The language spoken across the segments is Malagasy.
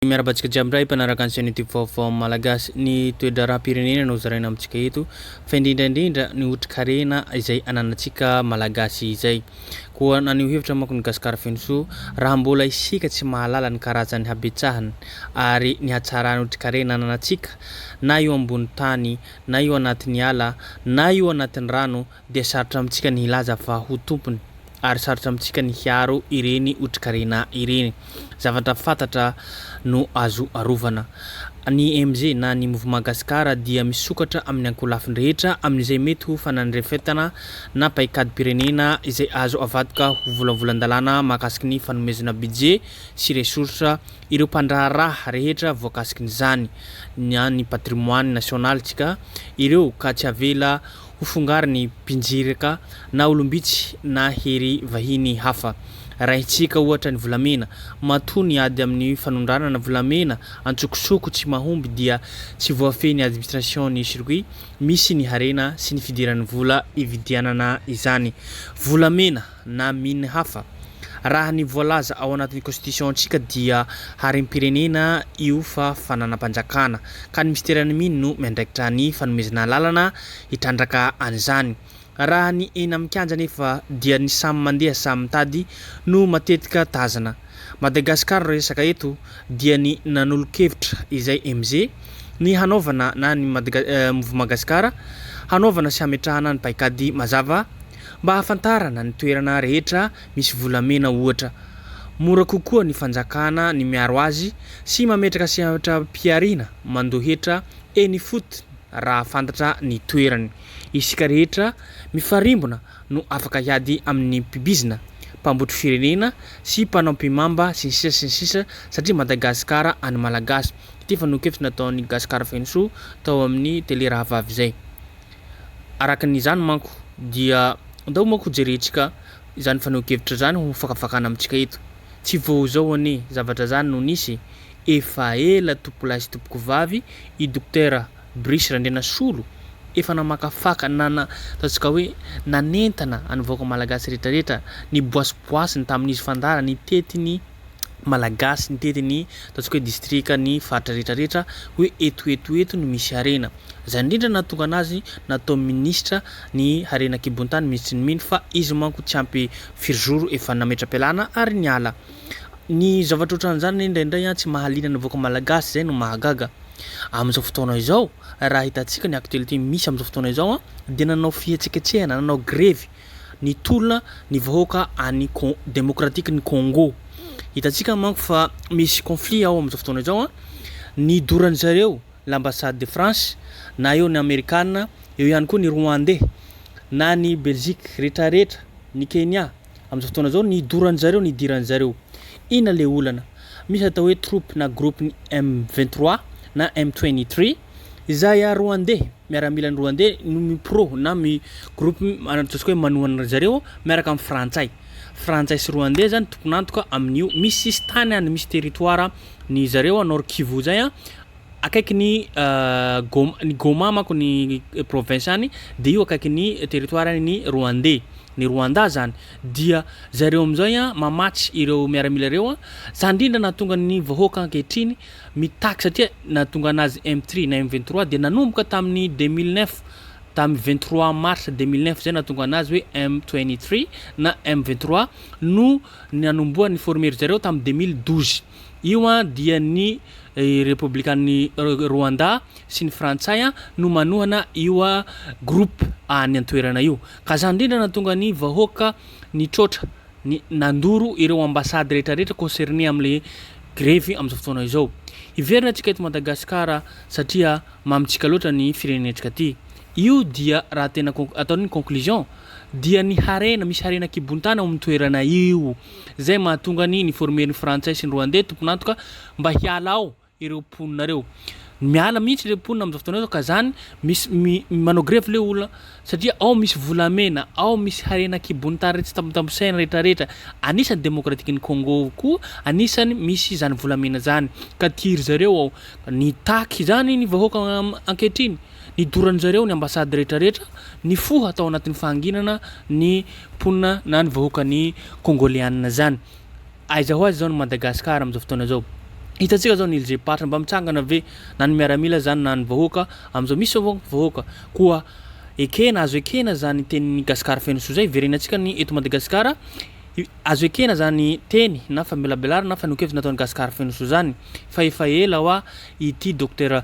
Miarahaba antsika jiaby indray mpanaraka ny chaîne YouTube vaovao malagasy. Ny toe-draharaham-pirenena no zaraina amintsika eto fa indrindra indrindra ny otrikarena izay ananantsika malagasy izay. Koa naneho hevitra manko ny Gasikara Fenosoa raha mbola isika tsy mahalala ny karazan'ny habetsahany ary ny hatsaran'ny otrikarena ananantsika na eo ambony tany na eo anatin'ny ala na eo anatin'ny rano dia sarotra amintsika ny hilaza fa ho tompony, ary sarotra amintsika ny hiaro ireny otrikarena ireny. Zavatra fantatra no azo arovana. Ny MG na ny Mouvement Gascar dia misokatra amin'ny ankolafiny rehetra amin'izay mety ho fanandrefetana na paikadim-pirenena izay azo avadika ho volavolan-dalàna mahakasiky ny fanomezana budget sy ressources ireo mpandraharaha rehetra voakasikin'izany na ny patrimoine national-tsika ireo ka tsy avela ho fongarin'ny mpinjiraka na olom-bitsy na hery vahiny hafa. Arahintsika ohatra ny volamena. Matoa ny ady amin'ny fanondranana volamena antsokosoko tsy mahomby dia tsy voafehy ny administration ny circuit misy ny harena sy ny fidiran'ny vola ividianana izany volamena. na mine hafa. Raha ny voalaza ao anatin'ny Konstitision-tsika dia harem-pirenena io fa fananam-panjakana, ka ny Minisiteran'ny Mine no miandraikitra ny fanomezana alalana hitrandraka an'izany. Raha ny eny amin'ny kianja anefa dia ny samy mandeha samy mitady no matetika tazana. Madagascar resaka eto dia ny nanolo-kevitra izay MJ ny hanaovana na ny Mouvement Gasikara hanaovana sy hametrahana ny paikady mazava Mba hahafantarana ny toerana rehetra misy volamena ohatra, mora kokoa ny fanjakana ny miaro azy sy mametraka sehatram-pihariana mando hetra eny ifotony raha fantatra ny toerany. Isika rehetra mifarimbona no afaka hiady amin'ny mpibizina, mpambotry firenena sy mpanao mpimamba sy ny sisa sy ny sisa satria Madagasikara an'ny Malagasy. Ity fanokafy nataon'i Gascar Fenosoa tao amin'ny tele rahavavy izay. Araka izany manko dia andao manko jerentsika izany fanehoan-kevitra izany ho fakafakana amintsika eto. Tsy vao izao anie zavatra izany no nisy, efa ela tompokolahy sy tompokovavy i Dokotera Brice Randrianasolo efa namakafaka na ataontsika hoe nanentana ny vahoaka malagasy rehetrarehetra, niboasiboasiny tamin'izy fandara nitety ny Malagasy nitety ny ataontsika hoe distrika ny faritra rehetra rehetra hoe eto eto eto no misy harena. Izay indrindra nahatonga anazy natao minisitra ny harena an-kibontany minisitry ny mines fa izy manko tsy ampy firy jours efa nametra-pialana ary niala. Ny zavatra ohatran'izany anie indraindray tsy mahaliana ny vahoaka malagasy izay no mahagaga. Amin'izao fotoana izao raha hitantsika ny actualité misy amin'izao fotoana izao dia nanao fihetsiketsehana, nanao grevy nitolona ny vahoaka any Demokratikin'i Congo. Hitantsika manko fa misy conflit ao amin'izao fotoana izao an. Nidoran'ny zareo l'ambassade de France na eo ny Amerikana, eo ihany koa ny Rwandais na ny Belgique rehetra rehetra, ny Kenya amin'izao fotoana izao nidoran'ny zareo, nidiran'ny zareo. Inona le olana? Misy atao hoe troupes na groupe-ny M23 na M23. Izay Roandey, miaramilany Roandey no mi-pro na mi groupe ataontsika hoe manohana ry zareo miaraka amin'ny Frantsay. Frantsay sy Roandey zany tompon'antoka amin'io. Misy sisintany any, misy territoire ny zareo a Nord Kivu zay a, akaikin'ny Goma, ny Goma manko ny province any de io akaikin'ny territoire-n'ny Roandey, ny Rwanda zany. Dia zareo am'zay a mamatsy ireo miaramila reo a, zany ndrindra nahatonga ny vahoaka ankehitriny mitaky satria nahatonga anazy M three na M vingt trois dia nanomboka tamin'ny deux mille neuf tamin'ny vingt trois mars deux mille neuf izay nahatonga anazy hoe M twenty three na M vingt trois no nanombohany ni-former ry zareo tamin'ny deux mille douze io an dia ny repoblikan'i Rwanda sy ny frantsay an no manohana io groupe any an-toerana io ka izany indrindra nahatonga ny vahoaka nitroatra ny nandoro ireo ambassade rehetra rehetra concerné amle grevy amzao fotoana izao. Hiverina atsika eto Madagascar satria mamitsika loatra ny firenentsika ty. Io dia raha tena ataony ny conclusion dia ny harena misy harena kibontany ao aminy toerana io zay mahatonga ny ni former ny frantsay sy ny rwandais tompon'antoka mba hiala ao ireo mponina ireo. Miala mihitsy ilay mponina amin'izao fotoana izao ka izany misy manao grevy ilay olona satria ao misy volamena, ao misy harena kibon'ny tany tsy tambitambisaina rehetra rehetra. Anisan'ny demokratikin'ny Congo koa anisan'ny misy izany volamena izany ka tiry zareo ao. Nitaky izany ny vahoaka ankehitriny, nidorany zareo ny ambasady rehetra rehetra, nifoha tao anatin'ny fahanginana ny mponina na ny vahoakan'ny Kongoleana izany. Aiza ho aiza izao ny Madagascar amin'izao fotoana izao? Hitantsika izao ny LG Party mba mitsangana ve na ny miaramila izany na ny vahoaka amin'izao misy izao vahoaka vahoaka koa ekena azo ekena izany tenin'i Gasikara feno soa izay verenantsika ny eto Madagasikara azo ekena izany teny na famelabelarana na fanehoan-kevitra nataon'i Gasikara feno soa izany fa efa ela hoa ity Docteur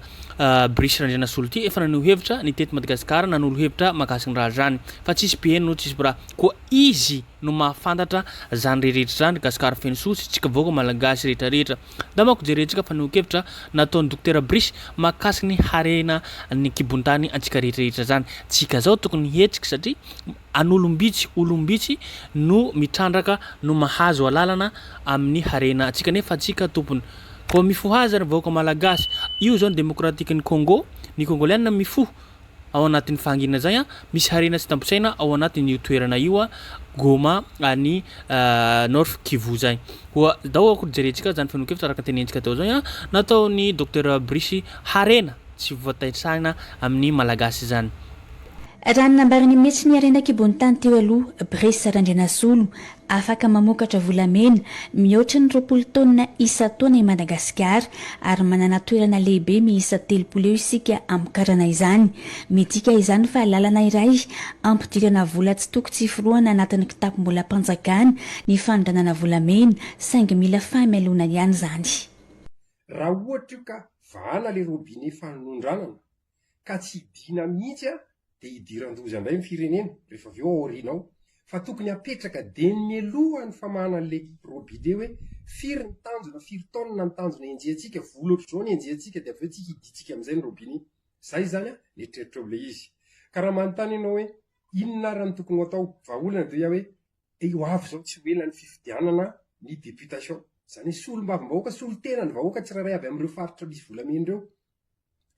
Brice Randrianasolo ity efa naneho hevitra nitety Madagasikara nanolo hevitra mahakasika ny raharaha izany fa tsisy mpiheno tsisy mpiraha koa izy no mahafantatra zany reheretra zany Gasikara feno soa sy tsika vahoaka Malagasy rehetra rehetra da mako jerentsika fanehoankevitra nataony Dokotera Brice mahakasika ny harena ny ankibontany antsika rehetra rehetra zany tsika zao tokony hihetsika satria an'olombitsy olombitsy no mitrandraka no mahazo alalana amin'ny harena antsika nefa tsika tompony koa mifohaza ny vahoaka Malagasy io zao ny demokratikin'i Kongo ny Kongoliana mifoha Ao anatin'ny fahanginana izay, misy harena tsy tamposaina ao anatin'io toerana io Goma any North Kivu izay. Koa dao akory jerentsika izany fenonkevitra araka ny tenentsika teo izay nataon'ny Docteur Brice harena tsy voataitrana amin'ny Malagasy izany. Raha ny nambarany mihitsy ny harena an-kibon'ny tany teo aloha Brice Randrianasolo Afaka mamokatra volamena mihoatra ny roapolo taonina isan-taona i Madagasikara, ary manana toerana lehibe miisa telopolo eo isika hamokarana izany. Midika izany fa lalana iray hampidirana vola tsy toko tsy forohana anatin'ny kitapom-bolam-panjakana ny fanondranana volamena, saingy mila fahamailoana ihany izany. Raha ohatra io ka vahana ilay robinet fanondranana, ka tsy hidina mihitsy aho dia hidiran-doza indray ny firenena rehefa avy eo aoriana ao, fa tokony hapetraka dieny mialoha ny famahana an'ilay robide hoe firy ny tanjona, firy taonina ny tanjona henjehintsika, vola ohatr'izao no henjehintsika dia avy eo tsy hidintsika amin'izay ny robine iny. Izay izany an, ny eritreritrao ilay izy. Ka raha manontany ianao hoe inona ary no tokony ho atao, vahaolana dia hoe dia ho avy izao tsy ho ela ny fifidianana ny députation. Izany hoe solombavambahoaka, solotena ny vahoaka tsirairay avy amin'ireo faritra misy volamena ireo.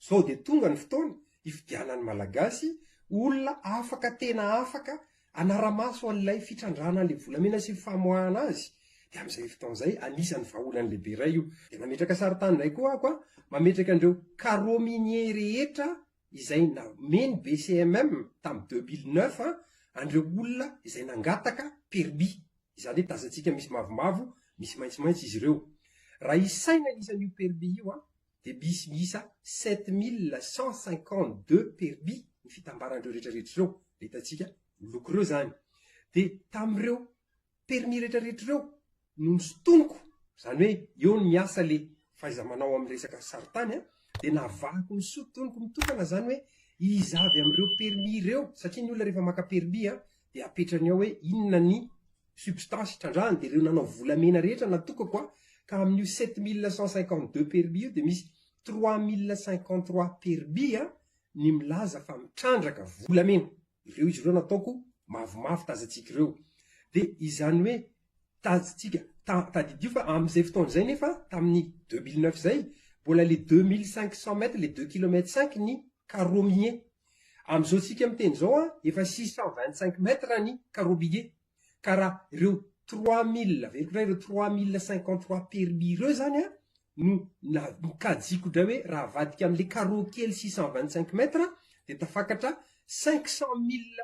Izao dia tonga ny fotoana hifidianan'ny Malagasy olona afaka tena afaka hanara-maso an'ilay fitrandrahana an'ilay volamena sy ny famoahana azy, dia amin'izay fotoana izay anisan'ny vahaolana lehibe iray io. Dia nametraka sarin-tany indray koa aho ka mametraka an'ireo carreaux miniers rehetra izay nomen'ny BCMM tamin'ny deux mille neuf an'ireo olona izay nangataka permis, izany hoe tazantsika misy mavomavo, misy maitsomaitso izy ireo. Raha isaina isan'io permis io an, dia bisy miisa sept mille cent cinquante deux perby ny fitambaran'ireo rehetrarehetra ireo, ilay hitantsika miloko ireo izany. Dia tamin'ireo permis rehetrarehetra ireo no nosintoniko, izany hoe eo no miasa ilay fahaiza-manao amin'ny resaka sarintany an, dia navahako ny sintoniko mitokana izany hoe iza avy amin'ireo permis ireo, satria ny olona rehefa maka permis an, dia apetrany ao hoe inona ny Substance hitrandrahany dia ireo nanao volamena rehetra natokako aho ka amin'io sept mille cent cinquante deux permis io dia misy trois mille cinquante trois permis a ny milaza fa mitrandraka volamena ireo izy ireo nataoko mavomavo tazantsika ireo dia izany hoe tazantsika ta tadidio fa amin'izay fotoana izay nefa tamin'ny deux mille neuf izay mbola le deux mille cinq cent mètres le deux kilomètre cinq ny carreaux miniers Amin'izao tsika miteny izao an, efa six cent vingt cinq mètres ny Karobige, ka raha ireo trois mille, averiko indray, ireo trois mille cinquante trois permis ireo izany an, no nokajiako indray hoe raha avadika amin'ilay carreau kely six cent vingt cinq mètres dia tafakatra cinq cent mille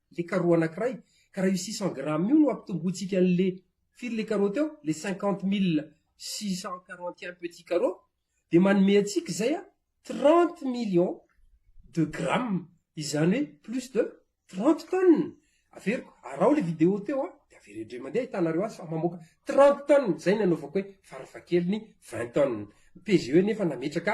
le carreau anakiray ka raha io six cent grammes io no ampitombointsika anle firy le carreau teo le cinquante mille six cent quarante et un petit carreau de manome antsika izay a trente millions de grammes izany hoe plus de trente tonnes averiko araho le video teo a de avereo indray mandeha ahitanareo azy fa mamoaka trente tonnes izay ny anaovako hoe farafahakeliny vingt tonnes ny PGE nefa nametraka